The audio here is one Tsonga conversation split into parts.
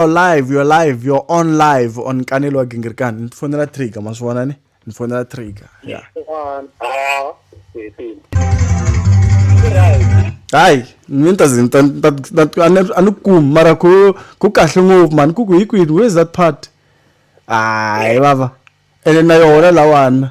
your live your live your on live on kanelo wa gingirikani ni fonela trigger ma swi vona ni ni fonela trigger ya hayi mi ni ta ze ni ta- ni ta- ni ta- a ni- a ni kumi mara ku ku kahle ngopfu mani ku ku hi kwini where is that part hayi vava ene na yona lawana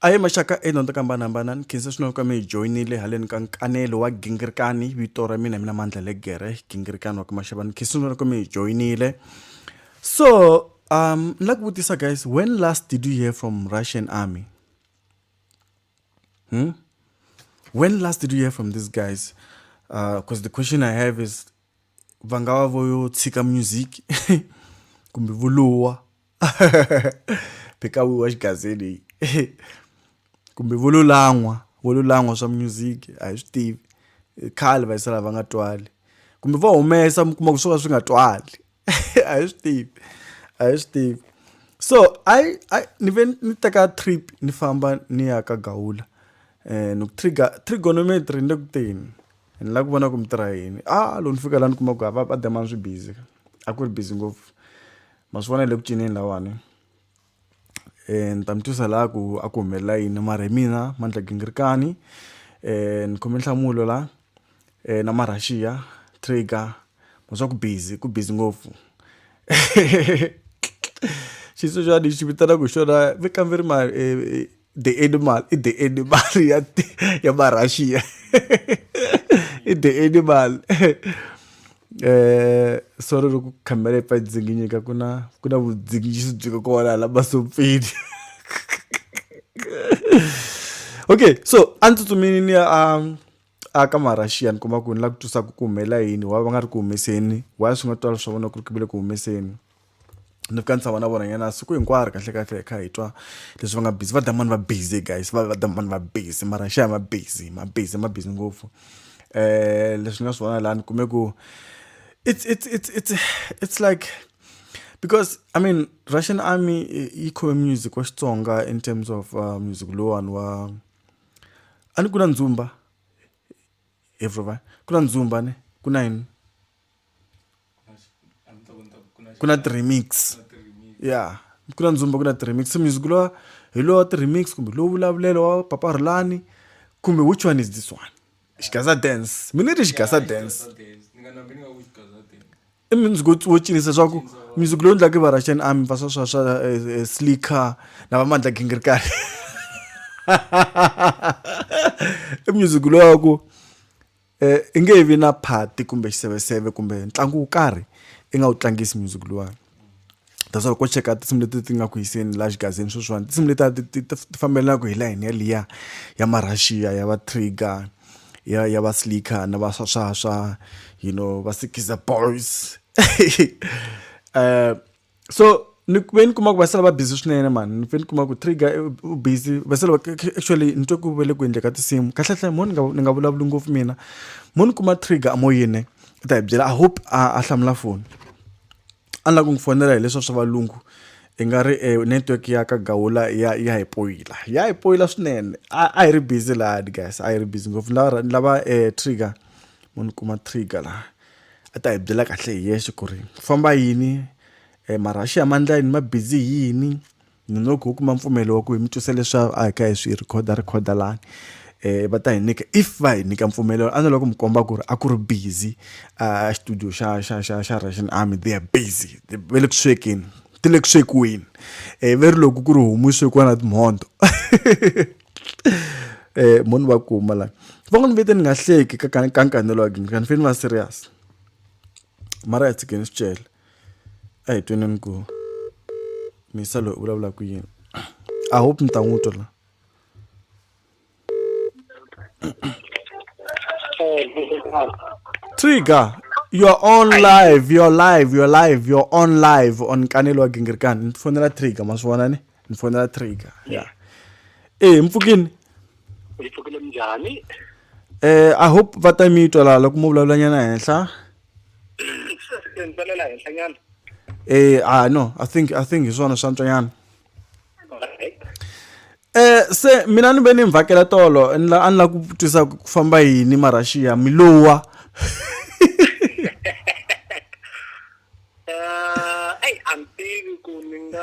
aye maxaka edyondzo to hambanahambana ni khensa swinene ka mi hi joyinile haleni ka nkanelo wa gingirikani vito ra mina mina mandla legere gingirikani wa ka maxava ni khensa swinene ka mi hi joyinile so um ni lava ku vutisa guys when last did you hear from russian army hmm? when last did you hear from these guys because uh, the question i have is va nga va vo yo tshika music kumbe vuluwa Phikawiwa xigazeni hi kumbe vo lo lan'wa vo lo lan'wa swa music a hi swi tivi khale va yisa lava va nga twali kumbe va humesa mi kuma ku swo ka swi nga twali a hi swi tivi a hi swi tivi so a a ni ve ni teka trip ni famba ni ya ka gawula um ni ku trigger trigonometry ni le ku teni ni lava ku vona ku mi tirha yini a loko ni fika laha ni kuma ku va va dema swi busy a ku ri busy ngopfu. ma swi vona hi le ku cineni lahawani ni ta mi twisa la ku a ku humelela yini mara hi mina Mandla Gingirikani ni khome nhlamulo la na Marhaxiya Trigger ma swa ku busy ku busy ngopfu xitsongwatsongwana lexi vitanaku hi xona mi kamberi ma . the animal i the animal ya ya marussia i the animal eh solo ri ku khamela pa dzinginyika ku na ku na vudzingisi byi ka kona la masompfini okay so a ndzi tsutsumini ni ya um a ka marussia ni kuma ku ni la ku twisaka ku humelela yini wa va nga ri ku humeseni wa swi nga twala swa vona ku ri ku vile ku humeseni ni fika ni tshama na vona nyana siku hinkwaro kahle kahle hi kha hi twa leswi va nga busy va dya mani va busy guys va va dya mani va busy mara xa ma busy ma busy ma busy ngopfu um leswi ni nga swi vona laha ni kume ku it's it's it's it's it's like because i mean russian army yi khome music wa xitsonga in terms of uh, music lowani wa a ni ku na ndzumba everyone ku na ndzumba ne ku na yini ku na ti-remix ya ku na ndzumba ku na ti-remix so music lowa hi lowa ti-remix kumbe lowu vulavulelo wa papa rhulani kumbe which one is this one xigaza dance mi ni ri xigaza dance i music wo cinisa swa ku music lowu endlaka va russian army va swa swa swa eh, eh, slicker na va mandla gingirikani i music lowa ku um i nge vi na phati kumbe xiseveseve kumbe ntlangu wo karhi i nga wu tlangisi music luwani that's why loko cheka tinsimu leti ti nga ku yiseni laha xigazini sweswiwani tinsimu leti ti ti ti fambelaka hi layini yaliya ya marhaxiya ya va trigger ya ya va slicker na va swa swa swa you know va sikiza boys um so ni ve ni kuma ku va sala va busy swinene mani ni ve ni kuma ku trigger eh, u busy va sala actually ni twe ku ve le ku endleka tinsimu kahlekahle mo ni nga ni nga vulavuli ngopfu mina mo ni kuma trigger amoyeni i ta hi byela i hope a a hlamula foni a ni lava ku n'wi fonela hi leswa swa valungu i nga ri e network ya ka gawula ya ya hi poyila ya hi poyila swinene a hi ri busy lahani guys a hi ri busy ngopfu ni lava ni lava um trigger mo ni kuma trigger laha a ta hi byela kahle hi yexe ku ri ku famba yini um marhaxi ya mandla yini ma busy hi yini ni ngo ku kuma mpfumelo wa ku hi mi twisa leswa a hi kha hi swi rhikhoda rhikhoda lani um va ta hi nyika if va hi nyika mpfumelelo a ni lava ku mi komba ku ri a ku ri busy a xitudiyo xa xa xa xa russian army they are busy va le ku swekeni ti le ku swekiweni um va ri loko ku ri homu yi swekiwa na timhondzo eh munhu va kuma la va n'wi vete ni nga hleki ka ka nkanelo wa gini kanifeni va serious mara ya tshikeni swi cele a hi tweneni ku misa loyi u vulavula ku yini i hope ni ta n'wi twa la trigger you're on live you're live you're live you're on live on kanelo wa gingirikani ni fonela trigger ma swi vona ni ni fonela trigger ya eh mpfukini yi pfukile njhani eh i hope va ta mi twa laha loko mo vulavula nyana henhla ni tsalela henhla nyana eh ah no i think i think hi swona swa ntswanyana Alright. eh se mina ni ve ni mi vhakela tolo ni la- a ni la ku twisisa ku ku famba yini marashiya mi lowa Eh, eyi a ni tivi ku ni nga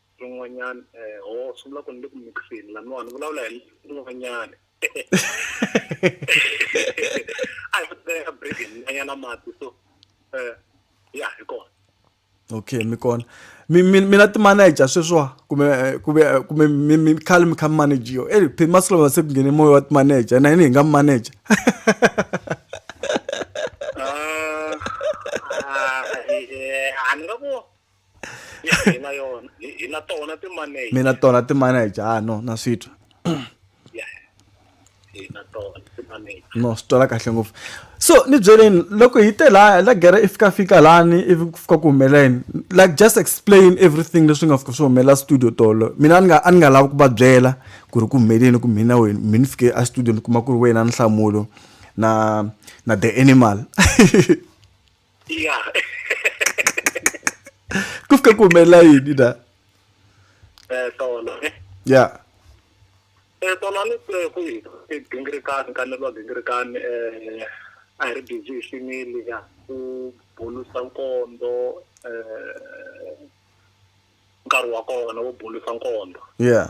Rin'wanyana eh ho swi vula ku ni le ku mix-eni laniwa ni vulavula hi rin'wanyana. A hi teka break hi nwanyana mati so eh ya hi kona. Okay mi kona. Mi mi mina ti manager sweswiwa kumbe eh, kumbe eh, kumbe mi mi khale mi kha mi managiwa. Eh phela masiku lawa se ku nghene moya wa ti manager na yini hi nga mi manager. Ah, ah, eh, a ni nga ku hi na yona hi na tona ti-manager mi na tona ti-manager ah no na swi twa no swi twala kahle ngopfu so ni byeleni loko hi te la la gere i fika fika lani ivi ku fika ku humeleni like just explain everything leswi nga fika swi humelela studio tolo mina a ni nga a ni nga lavi ku va byela ku ri ku humeleni ku mina wena mi ni fike a studio ni kuma ku ri wena nhlamulo na na the animal ya ku fika ku humelela yini na eh tona eh. ya eh tona ni ku ku gingirikani ka ni lo gingirikani eh a hi ri busy hi xinili ya ku bulusa nkondo eh nkarhi wa kona wo bulusa nkondo ya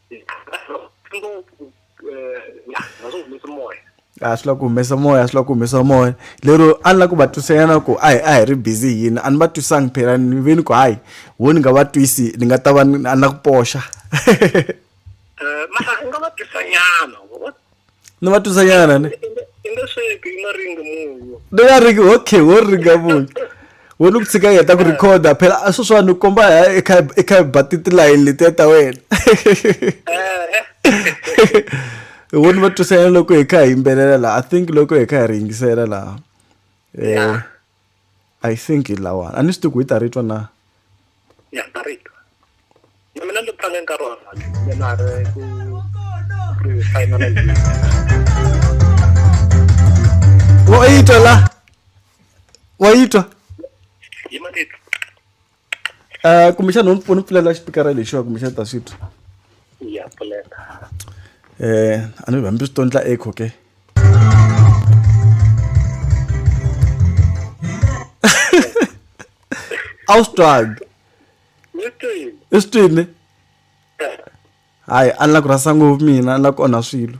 a swi la ku humesa moya a swi la ku humesa moya lero a ni la ku va twisanyana ku a hi a hi ri busy hi yini a ni va twisangi phela ni ve ni ku hayi wo ni nga va twisi ni nga ta va a ni la ku poxa eh, mara u nga va twisanyana ni va twisanyana ni i nge sweki i maringi munyu ni nga ringi okay wo ringa munyu wo ni ku tshika heta ku rhikhoda phela a sweswiwani ni komba hi i kha ba titilayini letiya ta wena wo ni va twisanyana loko hi kha hi yimbelela laha i think loko hi kha hi ri yingisela laha um i think hi lawani a ni swi tiku hi ta ri twa na ya ta ri twa na mina ni tlange nkarhi wa mina ri ku ri finalize wa yi twa la wa yi twa yi ma ni twa kumbexana u ni pfulela xipikara lexiwa kumbexana ni ta swi twa ya pfuleka eh a ni vambi swi tondla echo ke a wu swi twanga i swi twini hayi a ni la ku rhasa ngopfu mina a ni la ku onha swilo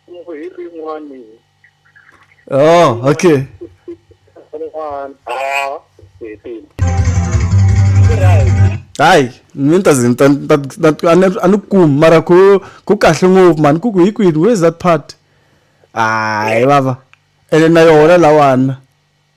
Kungu hi rin'wani. Oh, okay. Rin'wana. Ah, hetile. Right. hayi mi ta ze ni ta- ni ta- ni ta- a ni- a ni kumi mara ku ku kahle ngopfu mani ku ku hi kwini where's that part hayi vava ene na yona lawana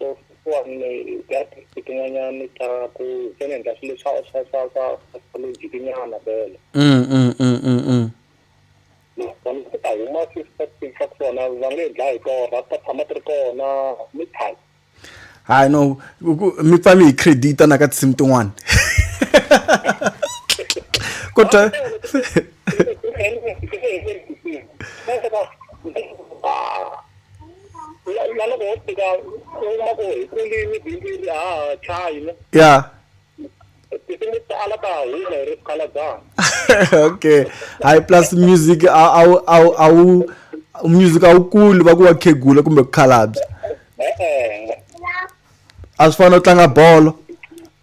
leswiwani ta ti tin'wanyani ta ku se ni endla swilo swa swa swa swa astrology tinyana vele mm, mm, mm, mm, mm. nakona ku ta huma swi swa kona va nge dlaya hi torha ti ta tshama ti ri kona mi tshama hayi no mi pfa mi hi credita na ka tinsimu tin'wana kodwa na na loko ho fika u kuma ku hi kulini bindzu ri ha ha tlhayi ne ya tinsimu to tala ta ha huma hi ri swikhalabana okay hayi plus music a a wu- a wu- a wu music a wu kuli va ku wa khegula kumbe ku khalabya e-e a swi fani no tlanga bolo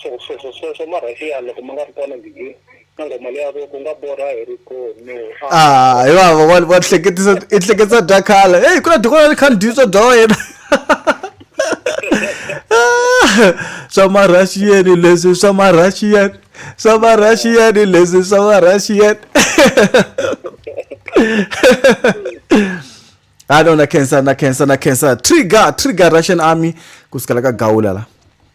Swo swo swo swo swo marhasiya loko ma nga ri kona gigini na nghoma leya ku ku nga borha hi ri koni. Ah, hi vava wa wa hleketisa i hleketisa bya khale. Hey, ku na doko ra khale dyi swa bya wena. swa marhashiyeni leswi swa marhashiyeni swa marhashiyeni leswi swa marhashiyeni ha no na khensa na khensa na khensa trigger trigger russian army ku sukela ka gawula la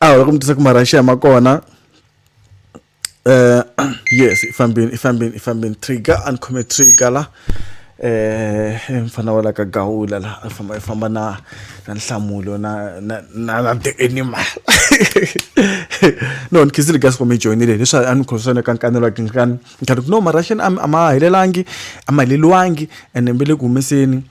a hi ku mi tisa ku marhaxiya ma kona um yes i fambini i fambini i fambini trigger a ni khome trigger la um mfana wa la ka gawula la a famba i famba na na nhlamulo na na na na the animal no ni khizile gas mi joyinile leswi a ni khoswa ni kankanelwa ke nkani ni khari no marhaxiya a ma helelangi a ma heleliwangi ene mbe le ku humeseni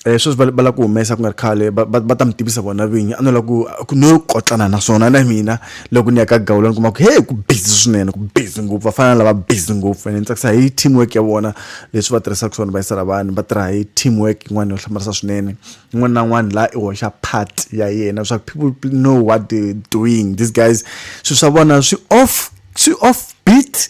Eh, sweswi va lava ku humesa ku nga ri khale va ta mi tivisa vona vinyi a no lava ku ku no kotlana naswona na mina loko ni ya ka gawula ni kuma ku he ku busy swinene ku busy ngopfu va fana na lava busy ngopfu ene ni tsakisa hi team work ya vona leswi va tirhisaka swona va yisela vanhu va tirha hi team work yin'wana yo hlamarisa swinene un'wana na un'wana laha i hoxa part ya yena swa people know what they doing these guys swilo swa vona swi off swi off beat